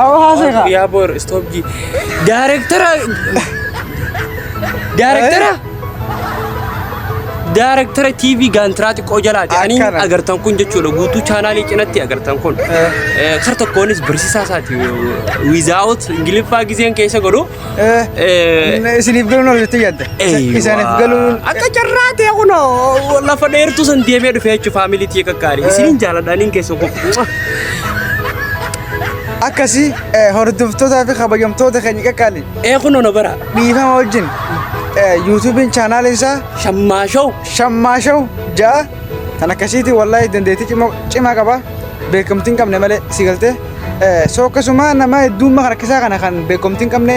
Awo haasee kaa. Yaa boor stop ji. Daarektara. Daarektara. Daarektara TV gaantiraa xiqqoo jalaati. Ani Akkana. agartan kun jechuudha guutuu chaanaalii cinatti agartan kun. Eh, Kar tokkoonis barsiisaa isaati. Wizaawut Ingiliffaa giseen keessa godhu. Isiniif galuun ol jettee yaadda. Isaaniif galuun. Akka carraa ta'e kunoo lafa dheertuu san deemee dhufee jechuun faamilii tiyya kakkaarii. Isiniin jaaladha niin keessa kun. Akkasii hordoftootaa fi kabajamtoota keenya qaqqaali. Ee kunoo na bara. Dhiifama wajjin yuutuubiin chaanaaliin isaa Shammaa show. Shammaa Show ja'a Kan akkasiitiin wallaahi dandeettii cimoo cimaa qaba. Beekamtii hin qabne malee si galtee. Eh, So akkasuma nama hedduummaa kan akkasaa kana kan beekamtii hin qabne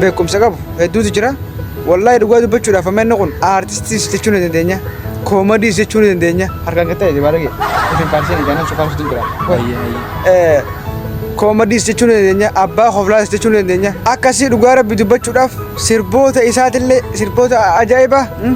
beekumsa qabu hedduutu jira. Wallaahi dhugaa dubbachuudhaaf amma inni kun aartistiis jechuu ni dandeenya. Koomadiis jechuu ni dandeenya. Harkaan kan ta'e baala kee. Isin kaarsee ni jaanaan sukaan suutu jira. Hayyee hayyee. Koomadiis jechuu ni dandeenya. Abbaa hoflaas jechuu ni dandeenya. Akkasii dhugaa rabbi dubbachuudhaaf sirboota isaatillee sirboota ajaa'ibaa. mm,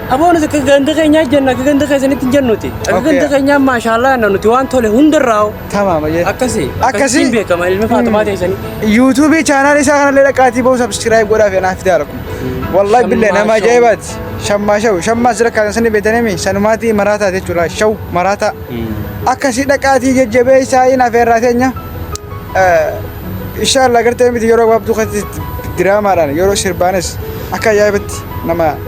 Aboo nuti akka ganda keenyaa jennu akka ganda keessanitti hin jennuti. Akka Okay. ganda keenyaa maashaallah jenna nuti waan tole hundarraa hoo. Tamaama jee. Akkasi. Akkasi. Akkasiin beekama ilmi Faatumaa teessanii. Yuutuubii chaanaal isaa kanallee dhaqaatii ba'uu sabskiraayib godhaa fi anaaf fidaa rakku. Wallahi billee Shammaa nama shawu. ajaa'ibaati. Shammaa shawu. Shammaa sira kan sani beekanimi sanumaatii maraataa jechuudha. Shawu maraataa. Akkasii dhaqaatii jajjabee isaa hin afeerraa teenya. Inshaallah gartee miti yeroo gabaabduu keessatti diraamaadhaan yeroo sirbaanis akka ajaa'ibatti nama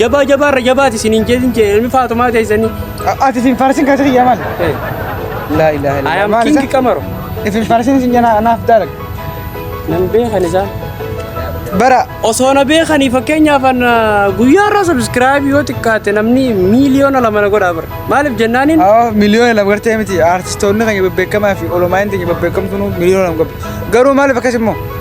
Jabaa jabaa irra jabaati isiniin jedhin jee ilmi faatumaa teessanii. Ati isin faarsin kan sirrii yaman. Laa ilaaha illallah. Ayam Maal isa? kingi qamaro. Isin faarsin isin jana anaaf daalag. Nan beekan isaa. Bara Osoo na beekanii fakkeenyaaf an guyyaa irraa sabiskiraayibii yoo xiqqaate namni miiliyoona lama na godhaa bara. Maaliif jennaaniin Awwa miliyoona lama gartee miti artistoonni keenya bebbeekamaa fi olomaayinti keenya bebbeekamtuun miliyoona lama qabdi. Garuu maaliif akkas immoo?